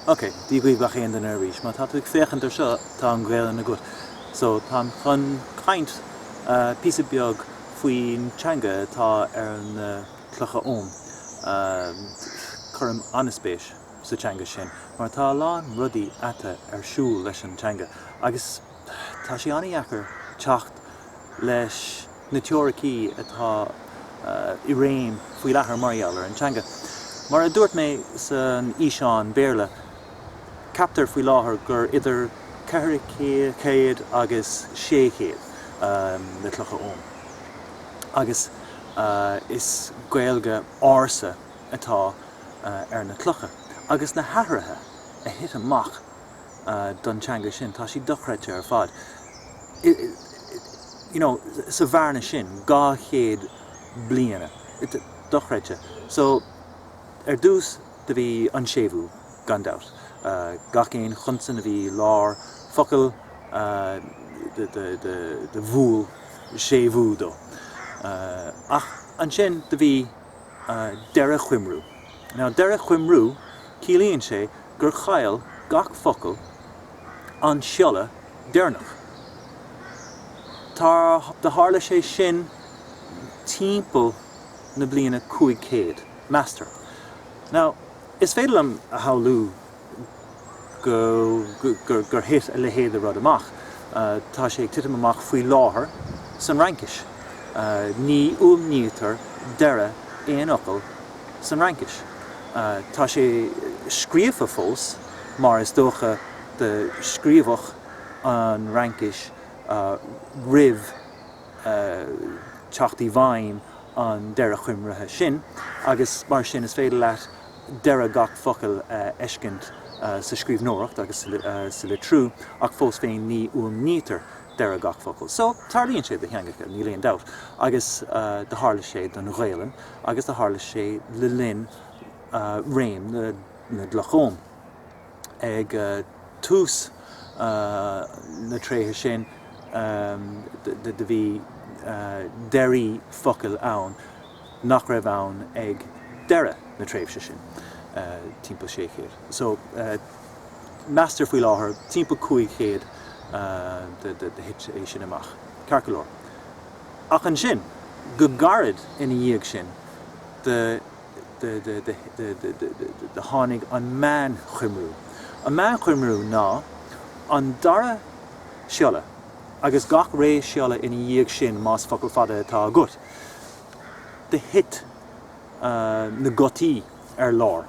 Ok, dia dhaoibh gach aon duine arís. Má tá tú ag féachaint ar seo, tá an Ghaelainn agat. So, táim chun caint píosa beag faoin teanga atá ar na clocha oghaim. Cuirim ana-spéis sa teanga sin mar tá a lán rudaí atá ar siúl leis an teanga agus tá sé an-dheacair teacht leis na teoiricí atá i réim faoi láthair mar gheall ar an teanga. Mar a dúirt mé san fhíseán Béarla, ceaptar faoi láthair gur idir 400 agus 600 na clocha oghaim agus is Gaeilge ársa, atá ar na clocha agus na hathruithe a thit amach don teanga sin, tá siad dochreidte ar fad. You know, sa bhearna sin, dhá chéad bliana, dochreidte. So, ar dtús, do bhí an séimhiú, gan dabht. Gach aon chonsan a bhí lár focail, do bhuail séimhiú dó. Ach ansin, do bhí. deireadh choimriú. Now deireadh choimriú ciallaíonn sé gur chaill gach focal an siolla deireanach. Do tharla sé sin timpeall na bliana 500, meastar. Now is féidir liom a shamhlú. gur thit a leithéid de rud amach. Tá sé ag titim amach faoi láthair san Fhraincis. Ní fhuaimnítear deireadh aon fhocal san Fhraincis. Tá sé scríofa fós mar is dócha do scríobhadh an Fhraincis roimh teacht i bhfeidhm an deireadh choimrithe sin agus mar sin is féidir leat deireadh gach focail a fheiscint sa scríbhneoireacht agus sa litriú ach fós féin ní fhuaimnítear deireadh gach focail. So, tarlaíonn sé do theangacha, níl aon dabht, agus do tharla sé don Ghaelainn agus do tharla sé le linn réim na gCloch Oghaim ag tús na tréimhse sin do bhí deirí focail ann, nach raibh ann ag dheireadh na tréimhse sin, timpeall 600. So, meastar faoi láthair timpeall 500 do thit é sin amach, ceart go leor. Ach ansin, go gairid ina dhiaidh sin do tháinig an meánchoimriú. An meánchoimriú ná an dara siolla agus gach ré siolla ina dhiaidh sin más focal fada atá agat. do thit na gutaí ar lár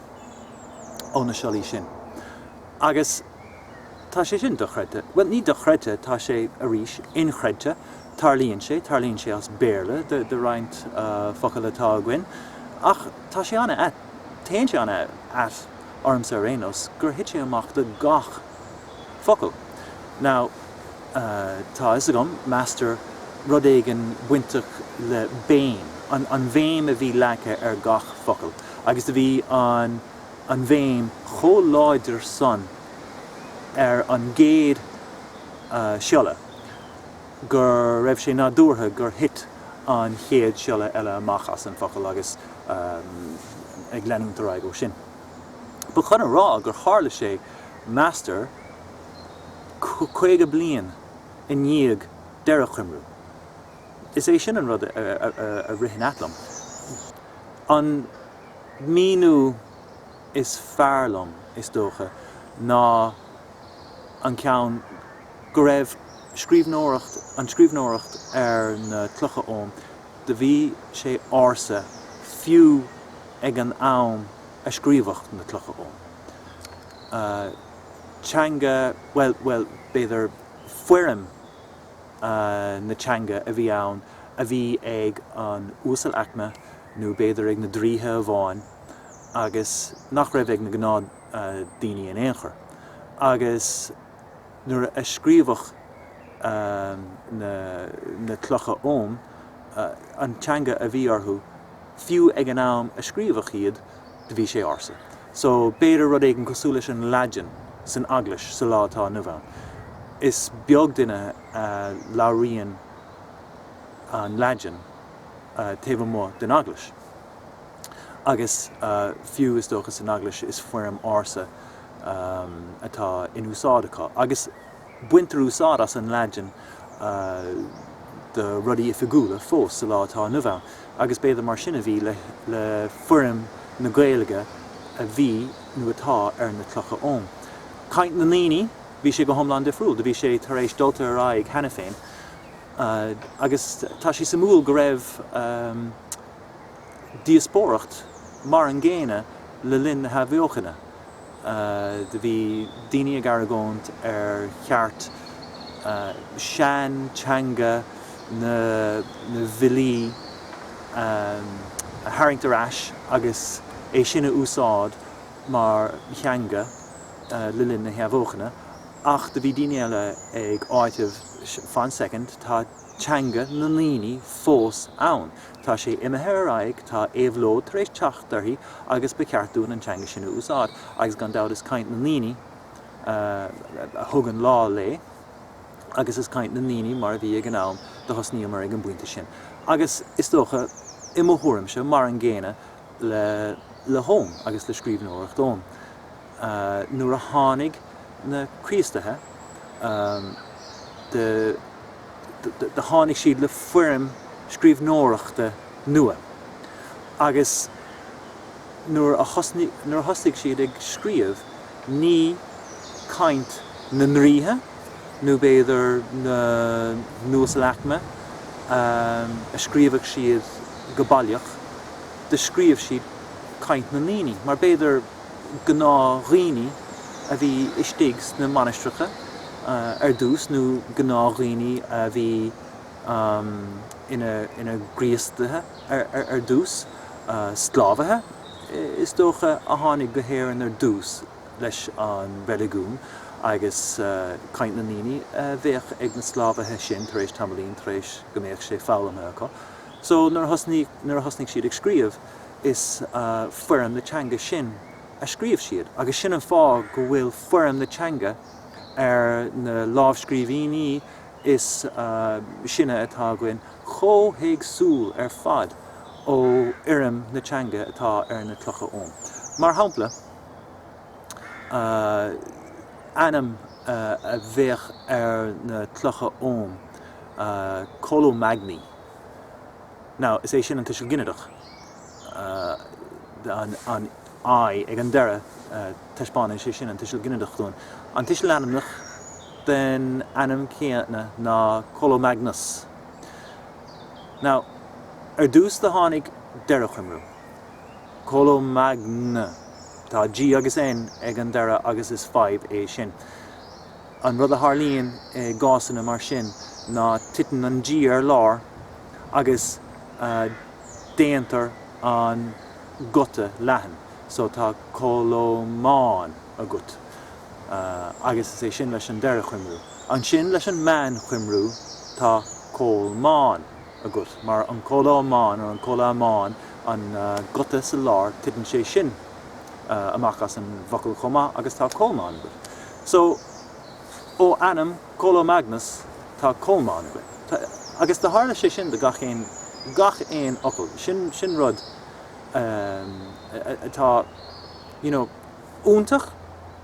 ó na siollaí sin. Agus tá sé sin dochreidte. Bhuel, ní dochreidte, tá sé, arís, inchreidte. Tarlaíonn sé. Tarlaíonn sé as Béarla do roinnt focal atá againn. Ach tá sé an-ait, téann sé an-ait ormsa ar aon nós, gur thit sé amach do gach. focal. Now, tá a fhios agam, meastar rud éigin bainteach le béim, an bhéim a bhí leagtha ar gach focal agus do bhí an bhéim chomh láidir san ar an gcéad siolla go raibh sé nádúrtha gur thit an chéad siolla eile amach as an focal agus ag leanúint ar aghaidh ó sin. But chun a rá gur tharla sé, meastar, 50 bliain i ndiaidh deireadhchoimriú. Is é sin an rud a ritheann ait liom. An míniú is fearr liom, is dócha, ná an ceann go raibh scríbhneoireacht, an scríbhneoireacht ar na clocha oghaim. Do bhí sé ársa fiú ag an am a scríobhadh na clocha oghaim. Teanga, bhuel, bhuel, b'fhéidir foirm na teanga a bhí ann a bhí ag an uasalaicme nó b'fhéidir ag na draoithe amháin agus nach raibh ag na gnáthdhaoine in aon chor agus, nuair a scríobhadh na clocha oghaim, an teanga a bhí orthu, fiú ag an am a scríobhadh iad, do bhí sé ársa. So, b'fhéidir rud éigin cosúil leis an Laidin san Eaglais sa lá atá inniu ann. Is beag duine a labhraíonn an Laidin taobh amuigh den Eaglais. Agus fiú is dócha san Eaglais is foirm ársa atá in úsáid acu. Agus baintear úsáid as an Laidin do rudaí oifigiúla fós sa lá atá inniu ann. Agus b'fhéidir mar sin a bhí le foirm na Gaeilge a bhí nó atá ar na clocha oghaim. Caint na ndaoine, bhí sé go hiomlán difriúil. Do bhí sé tar éis dulta ar aghaidh cheana féin. Agus tá sé suimiúil go raibh. díospóireacht mar an gcéanna le linn na hathbheochana. Do bhí daoine ag argóint ar cheart sean teanga na bhfilí a tharraingt ar ais agus é sin a úsáid mar theanga le linn na hathbheochana ach do bhí daoine eile ag áiteamh fan soicind tá teanga na ndaoine fós ann. Tá sé imithe ar aghaidh, tá éabhlóid tar éis teacht uirthi agus ba cheart dúinn an teanga sin a úsáid agus gan dabht is caint na ndaoine a thug an lá léi agus is caint na ndaoine mar a bhí ag an am do thosnaíomar ag an bpointe sin agus is dócha i mo thuairimse mar an gcéanna le le hogham agus le scríbhneoireacht oghaim. nuair a tháinig na Críostaithe, do tháinig siad le foirm scríbhneoireachta nua agus nuair a thosnaigh siad ag scríobh ní caint na ndraoithe nó b'fhéidir na n-uasalaicme a scríobh siad go baileach, do scríobh siad caint na ndaoine mar b'fhéidir. gnáthdhaoine a bhí istigh sna mainistreacha ar dtús nó gnáthdhaoine a bhí ina gCríostaithe ar dtús, sclábhaithe is dócha a tháinig go hÉirinn ar dtús leis an reiligiún agus caint na ndaoine a bheadh ag na sclábhaithe sin tar éis tamaillín, tar éis go mbeadh sé foghlamtha acu. So nuair a thosnaigh siad ag scríobh. is foirm na teanga sin a scríobh siad agus sin an fáth go bhfuil foirm na teanga ar na lámhscríbhinní is sine atá againn chomh héagsúil ar fad ó fhoirm na teanga atá ar na clocha oghaim. Mar shampla, ainm a bheadh ar na clocha oghaim, Colomagni, Now, is é sin an tuiseal ginideach, an I ag an deireadh, taispeánann sé sin an tuiseal ginideach dúinn. An tuiseal ainmneach den ainm céanna ná Colomagnas. Now, ar dtús do tháinig deireadhchoimriú, Colomagn, tá G agus N ag an deireadh agus is fadhb é sin. An rud a tharlaíonn i gcásanna mar sin ná titeann an G ar lár agus déantar an guta leathan. So tá colomán agat agus is é sin leis an deireadh choimriú. Ansin leis an meánchoimriú tá colmán agat mar an colomán or an colomán an guta sa lár titeann sé sin amach as an bhfocal chomh maith agus tá colmán agat. So, ó ainm Colomagnas tá Colmán againn. Tá, agus do tharla sé sin do gach aon, gach aon fhocal. Sin, sin rud atá, you know, iontach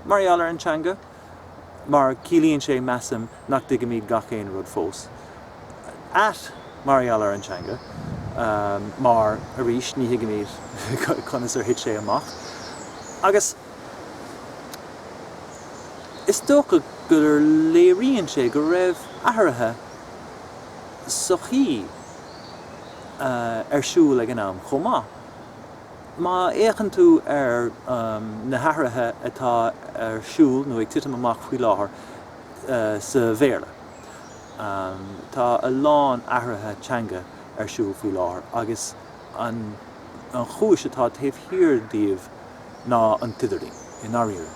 mar gheall ar an teanga mar ciallaíonn sé, measaim, nach dtuigimíd gach aon rud fós. Ait mar gheall ar an teanga mar, arís, ní thuigimíd conas ar thit sé amach. Agus. Is dócha gur léiríonn sé go raibh athruithe sochaí ar siúl ag an am chomh maith. Má fhéachann tú ar na hathruithe atá ar siúl nó ag titim amach faoi láthair sa Bhéarla, tá a lán athruithe teanga ar siúl faoi láthair agus an chúis atá taobh thiar díobh, ná an t-idirlíon, i ndáiríre.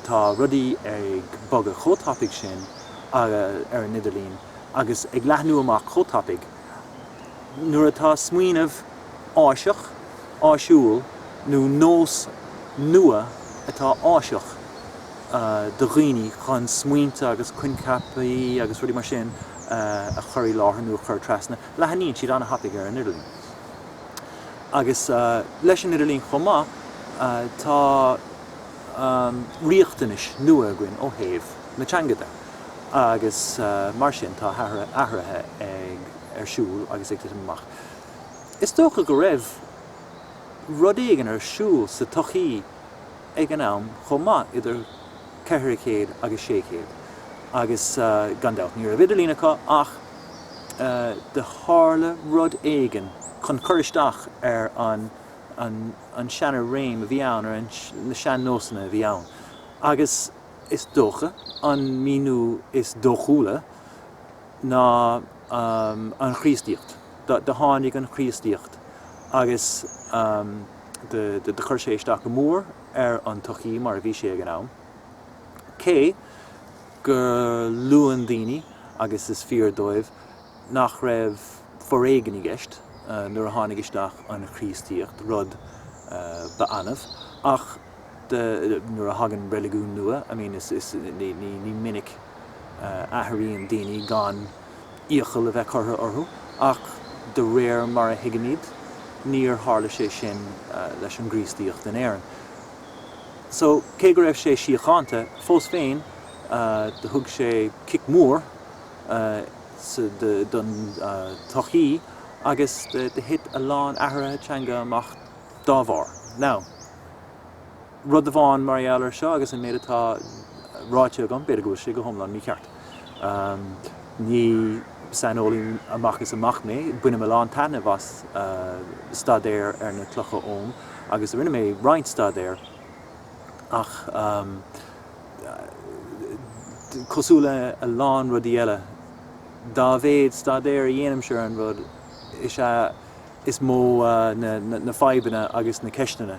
Tá rudaí ag bogadh chomh tapaidh sin ar an idirlíon agus ag leathnú amach chomh tapaidh, nuair atá smaoineamh áiseach, áisiúil, nó nós nua atá áiseach do dhaoine chun smaointe agus coincheapaí agus rudaí mar sin a chur i láthair nó a chur trasna, leathnaíonn siad an-tapaidh ar an idirlíon. Agus leis an idirlíon chomh maith tá riachtanais nua againn ó thaobh na teanga de agus mar sin tá athruithe ar siúl agus ag titim amach. Is dócha go raibh rud éigin ar siúl sa tsochaí ag an am chomh maith idir. ceithre chéad agus sé chéad agus gan dabht ní raibh idirlíon acu ach do tharla rud éigin chun cur isteach ar an an seana-réim a bhí ann ar an na sean-nósanna a bhí ann agus is dócha an míniú is dóchúla ná an Chríostaíocht. Do tháinig an Chríostaíocht agus do chuir sé isteach go mór ar an tsochaí mar a bhí sé ag an am. Cé gur luann daoine, agus is fíor dóibh, nach raibh foréigean i gceist nuair a tháinig isteach an Chríostaíocht, rud ba annamh, ach nuair a thagann reiligiún nua, I mean, is, ní minic a athraíonn daoine gan. iachall a bheith curtha orthu, ach de réir mar a thuigimíd níor tharla sé sin leis an gCríostaíocht in Éirinn. So, cé go raibh sé síochánta, fós féin do thug sé cic mhór don tsochaí agus do thit a lán athruithe teanga amach dá bharr. Now. Rud amháin mar gheall ar seo agus an méid atá ráite agam, b'fhéidir go bhfuil sé go hiomlán mícheart. Ní saineolaí amach is amach mé. Bainim a lán taitnimh as staidéar ar na clocha Oghaim agus rinne mé roinnt staidéir ach cosúil le a lán rudaí eile, dá mhéid staidéir a dhéanaimse ar an rud is ea is mó na fadhbanna agus na ceisteanna.